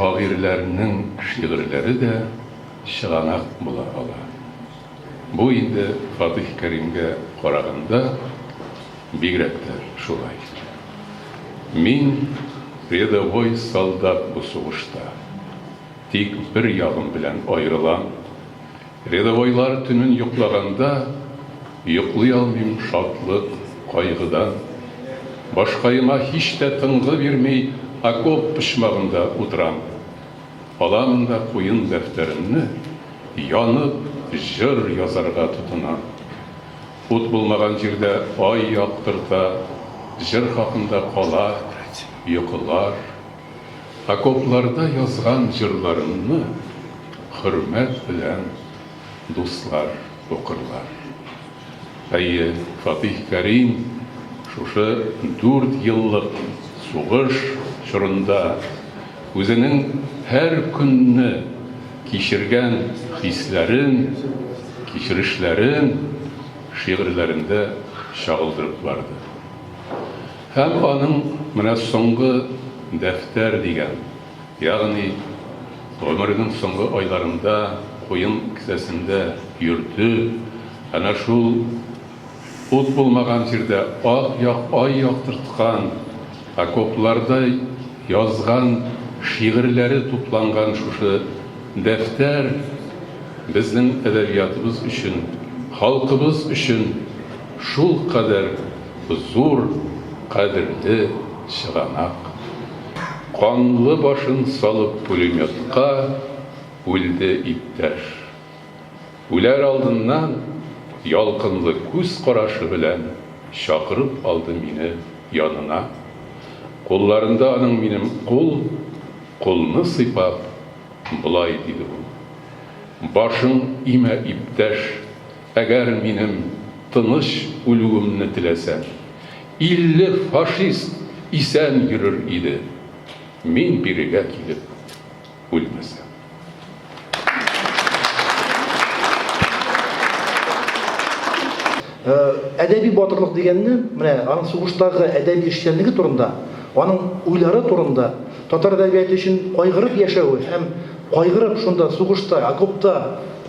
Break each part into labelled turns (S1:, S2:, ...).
S1: Шагыйрьләрнең шигырьләре дә чыганак була ала. Бу инде Фатыйх Кәримгә караганда бигрәк тә шулай. Мин рядовой солдат бу сугышта. Тик бер ягым белән аерылам, Рядовойлар төнен йоклаганда, Йоклый алмыйм шатлык, кайгыдан. Башкаема һич тә тынгы бирми Окоп почмагында утырам. Аламын да куен дәфтәремне, Янып, җыр язарга тотынам. Ут булмаган җирдә ай яктырта, Җыр хакында кала йокылар. Окопларда язган җырларымны хөрмәт белән дуслар укырлар. Әйе, Фатыйх Кәрим шушы дүрт еллык сугыш чорында үзенең һәр көнне кичергән хисләрен, кичерешләрен шигырьләрендә чагылдырып барды. Һәм аның менә соңгы дәфтәр дигән, ягъни гомеренең соңгы айларында куен кесәсендә йөрде, әнә шул ут булмаган җирдә ап-як ай яктырткан, окопларда язган шигырьләре тупланган шушы дәфтәр безнең әдәбиятыбыз өчен, халкыбыз өчен шулкадәр Зур кадерле чыганак. Канлы башын салып пулеметка үлде иптәш. Үләр алдыннан ялкынлы күз карашы белән чакырып алды мине янына. Кулларында аның минем кул, кулны сыйпап, болай диде ул. Башың имә, иптәш. Әгәр минем тыныч үлүемне теләсә, илле фашист исән йөрер иде, мин бирегә килеп үлмәсәм.
S2: Әдәби батырлык дигәнне, менә аның сугыштагы әдәби эшчәнлеге турында, аның уйлары турында, татар әдәбияты өчен кайгырып яшәве һәм кайгырып шунда сугышта, окопта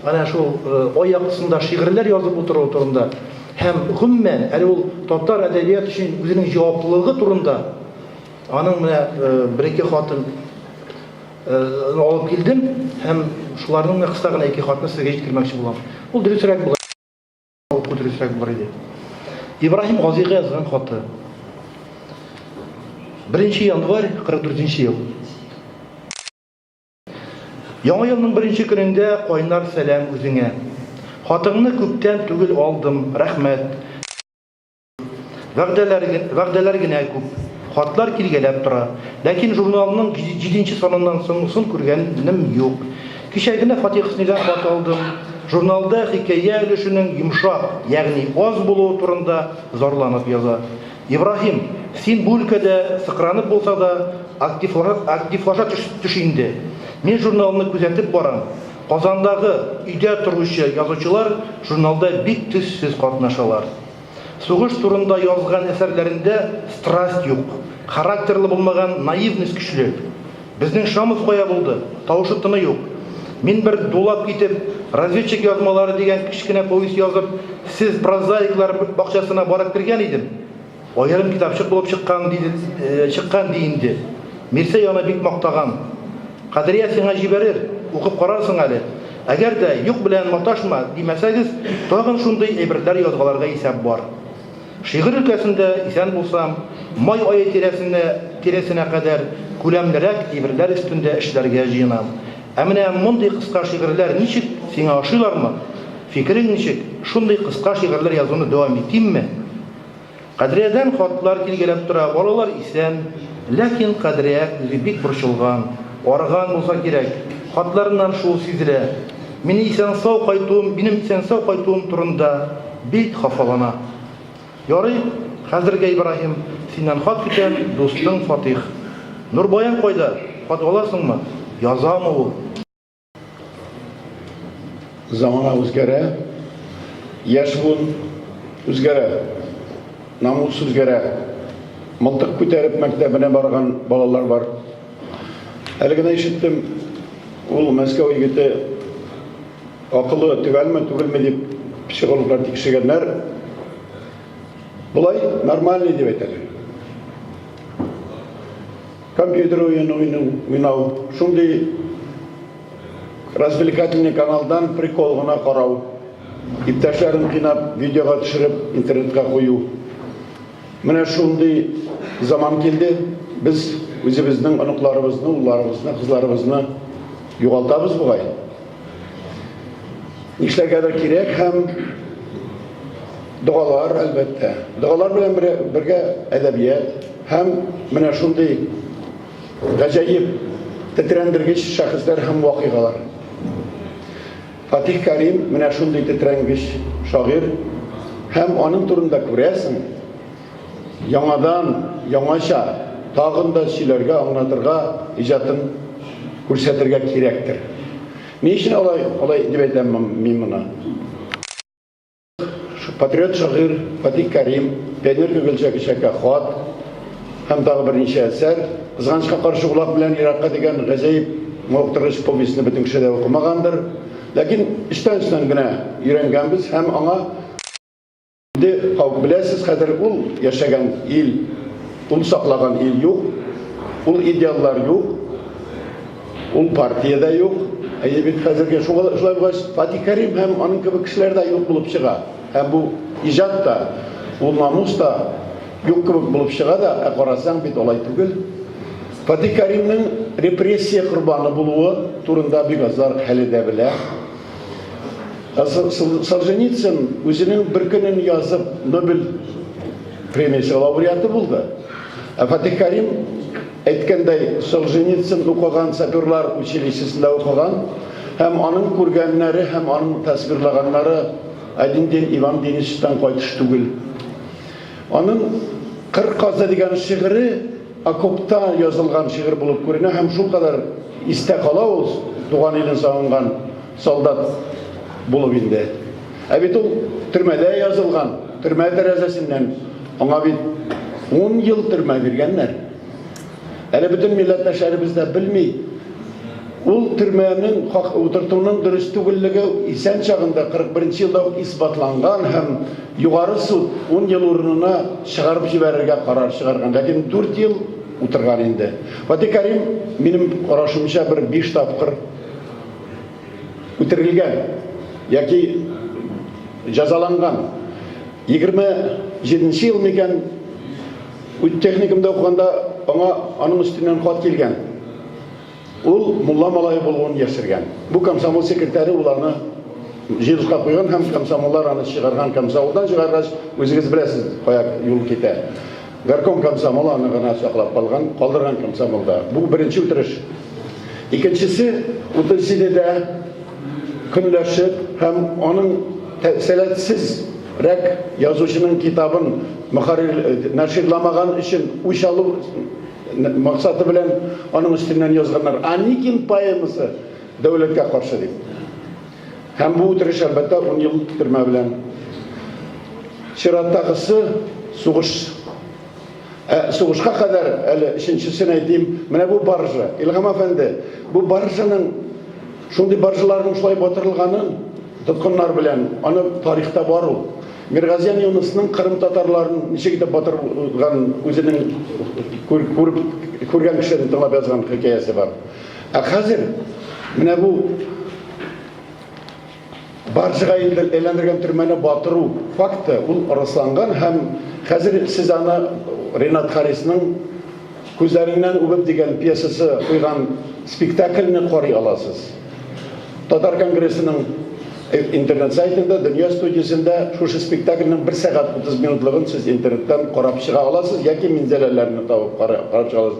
S2: Әнә шул аяк астында шигырьләр язып утыруы турында һәм гомумән, әле ул татар әдәбият өчен үзенең җаваплылыгы турында аның менә бер-ике хатын алып килдем һәм шуларның менә кыска гына ике хатны сезгә җиткермәкче булам. Ул дөресрәк булыр, уку дөресрәк булыр иде. Ибраһим Газигә язган хаты. Беренче январь 44 ел. Яңа елның беренче көнендә кайнар сәлам үзеңә. Хатыңны күптән түгел алдым, рәхмәт. Вәгъдәләр, вәгъдәләр генә күп, хатлар килгәләп тора. Ләкин журналның җиденче саныннан соңгысын күргәнем юк. Кичә генә Фатих Хөснидан хат алдым. Журналда хикәя өлешенең йомшак, ягъни аз булуы турында зарланып яза. Ибраһим, син бу өлкәдә сыкранып булса да, активлана, активлаша төш, төш инде. Мин журналны күзәтеп барам. Казандагы өйдә торучы язучылар журналда бик төссез катнашалар. Сугыш турында язган әсәрләрендә страсть юк, характерлы булмаган наивность көчле. Безнең шамов кая булды? Тавышы-тыны юк. Мин бер дулап китеп, Разведчик язмалары дигән кечкенә повесть язып, сез прозаиклар бакчасына барып кергән идем. Аерым китапчык булып чыккан ди, чыккан ди инде. Мирсәй аны бик мактаган. Кадрия сиңа җибәрер, укып карарсың әле. Әгәр дә, юк белән маташма, димәсәгез, тагын шундый әйберләр язгаларга исәп бар. Шигырь өлкәсендә, исән булсам, май ае тирәсенә тирәсенә кадәр күләмлерәк әйберләр өстендә эшләргә җыенам. Ә менә мондый кыска шигырьләр ничек, сиңа ошыйлармы? Фикерең ничек, шундый кыска шигырьләр язуны дәвам итимме? Кадриядан хатлар килгәләп тора, балалар исән, ләкин Кадрия үзе бик борчылган, арыган булса кирәк, хатларыннан шул сизелә. Мине исән-сау кайтуым, минем исән-сау кайтуым турында бик хафалана. Ярый, хәзергә, Ибраһим, синнән хат көтәм, дустың Фатих. Нурбаян кайда? Хат аласыңмы? Язамы ул?
S3: Замана үзгәрә, яшь буын үзгәрә, намус үзгәрә. Мылтык күтәреп мәктәбенә барган балалар бар. Әле генә ишеттем, ул Мәскәү егете акылы төгәлме, түгелме дип психологлар тикшергәннәр. Болай нормальный дип әйтәләр. Компьютер уены уйну, уйнау, шундый развлекательный каналдан прикол гына карау, иптәшләрен кыйнап, видеога төшереп, интернетка кую. Менә шундый заман килде, без үзебезнең оныкларыбызны, улларыбызны, кызларыбызны югалтабыз бугай. Нишләргәдер кирәк һәм догалар, әлбәттә. Догалар белән бергә әдәбият һәм менә шундый гаҗәеп тетрәндергеч шәхесләр һәм вакыйгалар. Фатих Кәрим менә шундый тетрәнгеч шагыйрь һәм аның турында күрәсең, яңадан, яңача тагын да сөйләргә, аңлатырга, иҗатын күрсәтергә кирәктер. Ни өчен алай, алай дип әйтәм мин моны? Патриот шагыйрь Фатих Кәрим, пионер Гөгелчә кичәккә хат һәм тагы берничә әсәр. Кызганычка каршы улак белән еракка дигән гаҗәеп мавыктыргыч повестьны бөтен кеше дә укымагандыр. Ләкин эчтән-эчтән генә өйрәнгәнбез һәм аңа инде кабул. Беләсез, хәзер ул яшәгән ил, ул саклаган ил юк, ул идеаллар юк. Ул партия дә юк. Әйе бит, хәзергә шуга шулай булгач, Фатих Кәрим һәм аның кебек кешеләр дә юк булып чыга. Һәм бу иҗат та, бу намус та юк кебек булып чыга да, ә карасаң бит алай түгел. Фатих Кәримнең репрессия корбаны булуы турында бик азлар әле дә белә. Солженицын үзенең бер көнен язып Нобель премиясе лауреаты булды. Ә Фатих Кәрим Әйткәндәй, Солженицын укыган, саперлар училищесында укыган һәм аның күргәннәре һәм аның тасвирлаганнары один день Иван Денисовичтан кайтыш түгел. Аның Кыр казы дигән шигыре окопта язылган шигырь булып күренә һәм шулкадәр истә кала ул, туган илен сагынган. Солдат булып инде. Ә бит ул төрмәдә язылган, төрмә тәрәзәсеннән аңа бит ун ел төрмә биргәннәр. Әле бөтен милләттәшләребез дә белми. Ул төрмәнең хак утыртуның дөрес түгеллеге исән чагында 41 елда ук исбатланган һәм Югары суд ун ел урынына чыгарып җибәрергә карар чыгарган. Ләкин дүрт ел утырган инде. Фатих Кәрим, минем карашымча, бер биш тапкыр үтерелгән яки җәзаланган 27 нче ел микән техникумда укыганда аңа аның өстеннән хат килгән ул мулла малае булуын яшергән бу комсомол секретаре ул аны җирушка куйган һәм комсомоллар аны чыгарган комсомолдан чыгаргач үзегез беләсез кая юл китә Горком комсомолы аны гына саклап калган, калдырган комсомолда. Бу беренче үтереш. Икенчесе, 37-дә көнләшеп һәм аның сәләтсез рәк язучының китабын мөхәррир нәширламаган өчен үч алу максаты белән аның өстеннән язганнар. Аникин поэмасы дәүләткә каршы дип. Һәм бу үтереш, әлбәттә, ун ел төрмә белән. Чираттагысы сугыш. Ә сугышка кадәр әле өченчесен әйтим, менә бу баржа. Илһам әфәнде, бу баржаның шундый баржаларның шулай батырылганын тоткыннар белән, аны тарихта бар ул. Миргазиян Юнысның кырым татарларын ничек итеп батырган үзенең күреп күргән кешеләрен тыңлап язган хикәясе бар. Ә хәзер менә бу баржыга инде әйләндергән төрмәне батыру факты ул расланган һәм хәзер сез аны Ренат Харисның күзләреннән үбеп дигән пьесасы куйган спектакльне карый аласыз. Татар конгрессының интернет сайтында дөнья студиясендә шушы спектакльнең 1 сәгать 30 минутлыгын сез интернеттан карап чыга аласыз яки минзәләләрне табып карап чыга аласыз.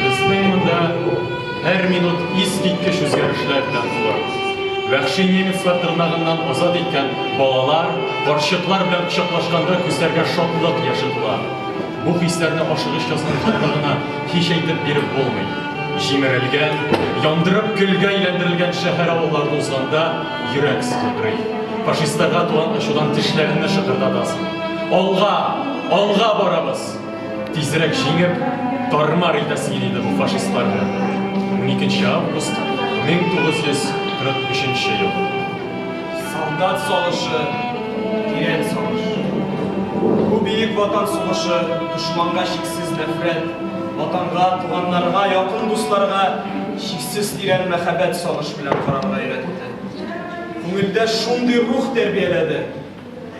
S4: Безнең монда һәр минут искиткеч үзгәрешләр белән тула. Вәхши немецлар тырнагыннан азат иткән балалар, карчыклар белән кочаклашканда күзләргә шатлык яше тула. Бу хисләрне ашыгыч язган хатта гына һич әйтеп биреп булмый. Җимерелгән, яндырып көлгә әйләндерелгән шәһәр-авылларны узганда йөрәк сыкылдый. Фашистларга туган ачудан тешләреңне шыкырдатасың. Алга, алга барабыз! Тизрәк җиңеп, тармар итәсең иде бу фашистларны. 12 август 1943 ел.
S5: Солдат салышы, тирән салыш. Бу бөек ватан сугышы дошманга чиксез нәфрәт, ватанга, туганнарга, якын дусларга чиксез тирән мәхәббәт салыш белән карарга өйрәтте. Күңелдә шундый рух тәрбияләде,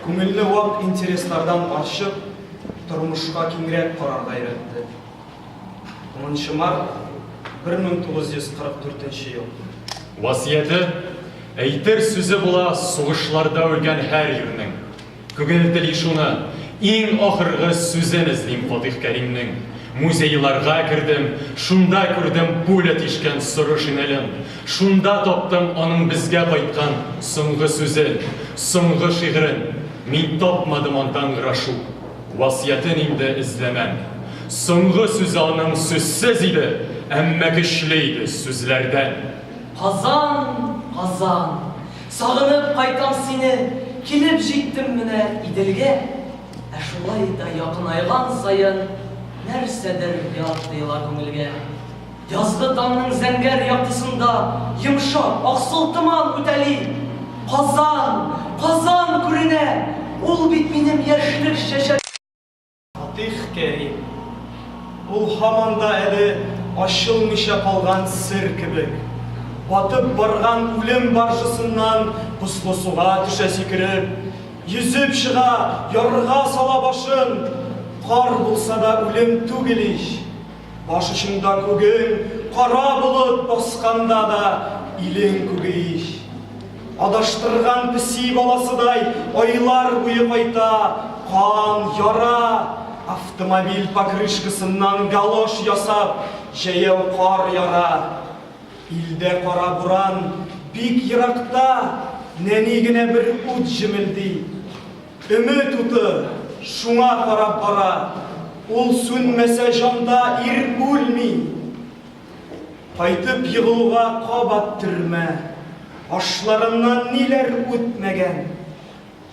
S5: күңелне вак интереслардан арчып, тормышка киңрәк карарга өйрәтте. 10 нчы март 1944 нче ел. Васыяте,
S4: әйтер сүзе була сугышларда үлгән һәр ирнең. Күгелтели шуны, иң ахыргы сүзен эзлим Фатих Кәримнең. Музейларга кердем, шунда күрдем пуля тишкән соры шинелен. Шунда таптым аның безгә кайткан соңгы сүзен, соңгы шигырен. Мин тапмадым андан грошу, васыятен инде эзләмәм. Соңгы сүзе аның сүзсез иде, әмма көчле иде, сүзләрдән. Казан,
S6: Казан! Сагынып кайтам сине, Килеп җиттем менә Иделгә. Ә шулай да якынайган саен Нәрсәдер ят тоела күңелгә. Язгы таңның зәңгәр яктысында йомшак аксыл томан үтәли. Казан, Казан күренә! Ул бит минем яшьлек чәчәгем! Фатих
S5: Кәрим. Ул һаман да әле ачылмыйча калган сер кебек. Батып барган үлем баржасыннан бозлы суга төшә сикереп. Йөзеп чыга, ярга сала башын. Кар булса да үлем түгел ич! Баш очында күген кара болыт басканда да илең күге ич. Адаштырган песи баласыдай айлар буе кайта, кан, яра, автомобиль покрышкасыннан галош ясап, җәяү кар яра. Илдә кара буран, бик еракта нәни генә бер ут җемелди. Өмет уты шуңа карап бара, ул сүнмәсә җанда ир үлми. Кайтып егылуга кабат төрмә, ашларыннан ниләр үтмәгән.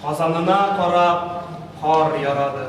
S5: Казанына карап кар ярады.